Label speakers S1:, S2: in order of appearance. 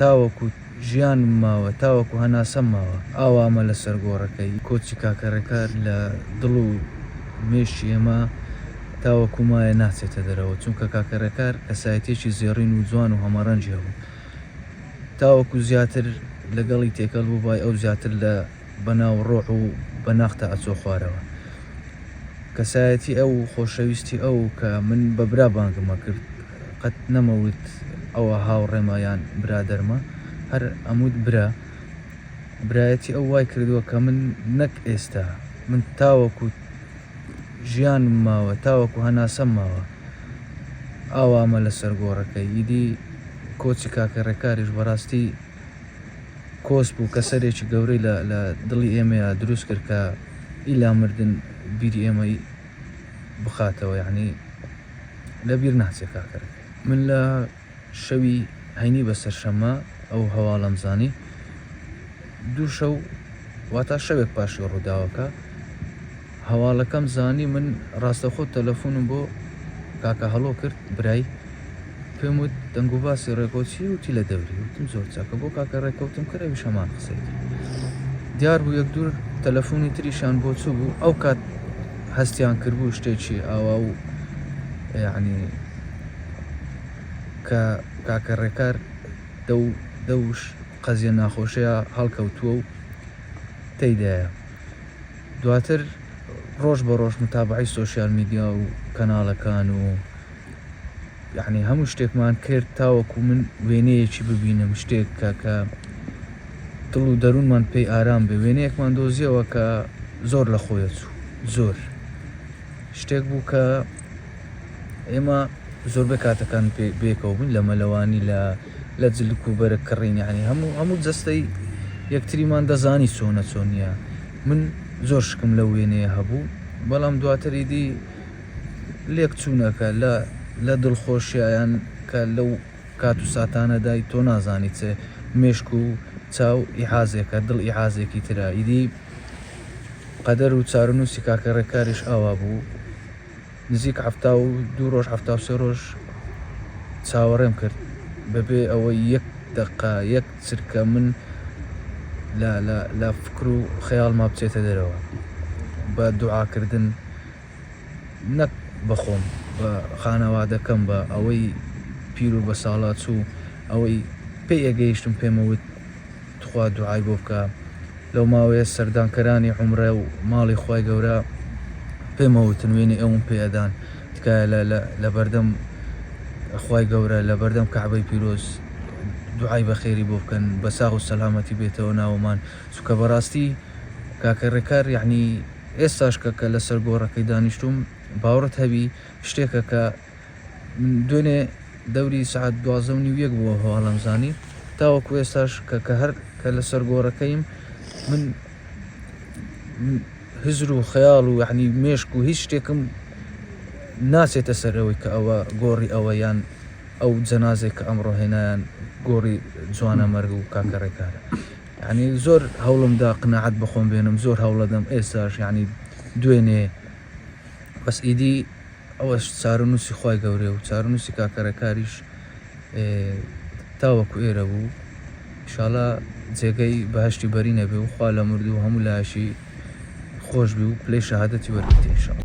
S1: تاوەکو ژیانم ماوە، تاوەکو هەناسەم ماوە، ئاوامە لەسەر گۆڕەکەی کۆچی کاکە ڕێکار لە دڵ و مێشکی ئێمە تاوەکو مایە ناچێتە دەرەوە، چونکە کاکە ڕێکار کەسایەتیەکی زێڕین و جوان و هەمەڕەنگی هەبوو، تاوەکو زیاتر لەگەڵی تێکەڵ بووبای ئەو زیاتر لە. بە ناو ڕۆح و بە ناختا ئەچۆ خوارەوە کەسایەتی ئەو و خۆشەویستی ئەو کە من بە برا بانگم ئەکرد قەت نەمەوت ئەوە هاوڕێمە یان برادەرمە هەر ئەموت برا برایەتی ئەو وای کردوە کە من نەک ئێستا من تاوەکو ژیانم ماوە تاوەکو هەناسەم ماوە ئاوامە لەسەر گۆڕەکەی ئیدی کۆچی کاکە ڕێکاریش بەڕاستی کۆسپ و کەسەرێکی گەورەی لە لە دڵی ئێمەیا دروست کرد کە ئیلا مردن بیری ئێمەی بخاتەوە یەعنی لە بیر ناچێ کاکەرەک. من لە شەوی هەینی بە سەرشەممە ئەو هەواڵەم زانی دوو شەو واتا شەوێک پاشی ڕووداوەکە. هەواڵەکەم زانی من ڕاستەوخۆ تەلەفونم بۆ کاکە هەڵۆ کرد برای پێم وت دەنگوباسی ڕێکۆ چی وتی لە دەوری وتم زۆر چاکە بۆ کاکە ڕێکەوتم کرد ئەویش هەمان قسەی دیار بوو یەک دوور تەلەفونی تریشان بۆ چوو بوو ئەو کات هەستیان کردبوو شتێکی ئاوا و یعنی کە کاکە ڕێکار دەو دەوش قەزیە ناخۆشەیە هەڵکەوتووە و تێدایە دواتر ڕۆژ بە ڕۆژ متابەعەی سۆشیال میدیا و کەناڵەکان و یەعنی هەموو شتێکمان کرد تاوەکو من وێنەیەکی ببینم شتێک کە کە دڵ و دەروونمان پێی ئارام بێ وێنەیەکمان دۆزیەوە کە زۆر لە خۆیە چوو زۆر شتێک بوو کە ئێمە زۆربەی کاتەکان بێکەوە بووین لە مەلەوانی لە لە جلک و بەرگ کڕین یانی هەموو هەموو جەستەی یەکتریمان دەزانی چۆنە چۆنیە من زۆر شکم لە وێنەیە هەبوو بەڵام دواتری دی لێک چوونەکە لە لە دڵخۆشیان کە لەو کات و ساتانەدای تۆ نازانی چێ مێشک و چاو ئیحازێکە دڵ ئیحازێکی ترە ئیدی قەدەر و چارەنووسی کاکە ڕێکاریش ئاوا بوو نزیک حەفتا و دوو ڕۆژ حەفتا و سێ ڕۆژ چاوەڕێم کرد بەبێ ئەوەی یەک دەقە یەک چرکە من لە لە لە فکر و خەیاڵما بچێتە دەرەوە بە دوعاکردن نەک بەخۆم بە خانەوادەکەم بە ئەوەی پیر و بە ساڵا چوو ئەوەی پێی ئەگەیشتم پێمەوت تخوا دوعای بۆ بکە لەو ماوەیە سەردانکەرانی عومرە و ماڵی خوای گەورە پێمە وتن وێنەی ئەوم پێ ئەدان تکایە لە لە لەبەردەم خوای گەورە لەبەردەم کەعبەی پیرۆز دوعای بەخێری بۆ بکەن بە ساغ و سەلامەتی بێتەوە ناوەمان چونکە بەڕاستی کاکە ڕێکار یعنی ئێستاش کە کە لەسەر گۆڕەکەی دانیشتووم باوڕت هەبی شتێکە کە دوێنێ دەوری سەعات دوازدە و نیو یەک بووە هەواڵم زانی تاوەکو ئێستاش کە کە هەر کە لەسەر گۆڕەکەیم من هزر و خەیاڵ و یعنی مێشک و هیچ شتێکم ناچێتە سەر ئەوەی کە ئەوە گۆڕی ئەوە یان ئەو جەنازێک کە ئەمڕۆ هێنایان گۆڕی جوانە مەرگ و کاکە ڕێکارە یعنی زۆر هەوڵم دا قناعەت بخۆم بێنم زۆر هەوڵەدەم ئێستاش یعنی دوێنێ بەس ئیدی ئەوەش چارەنووسی خوای گەورەیە و چارەنووسی کاکە رێکاریش تاوەکو ئێرە بوو ئیشاڵا جێگەی بەهەشتی بەرینە بێ و خوا لە مردوو و هەموو لایەشی خۆش بی و پلەی شەهادەتی وەربگرێ ئیشاڵا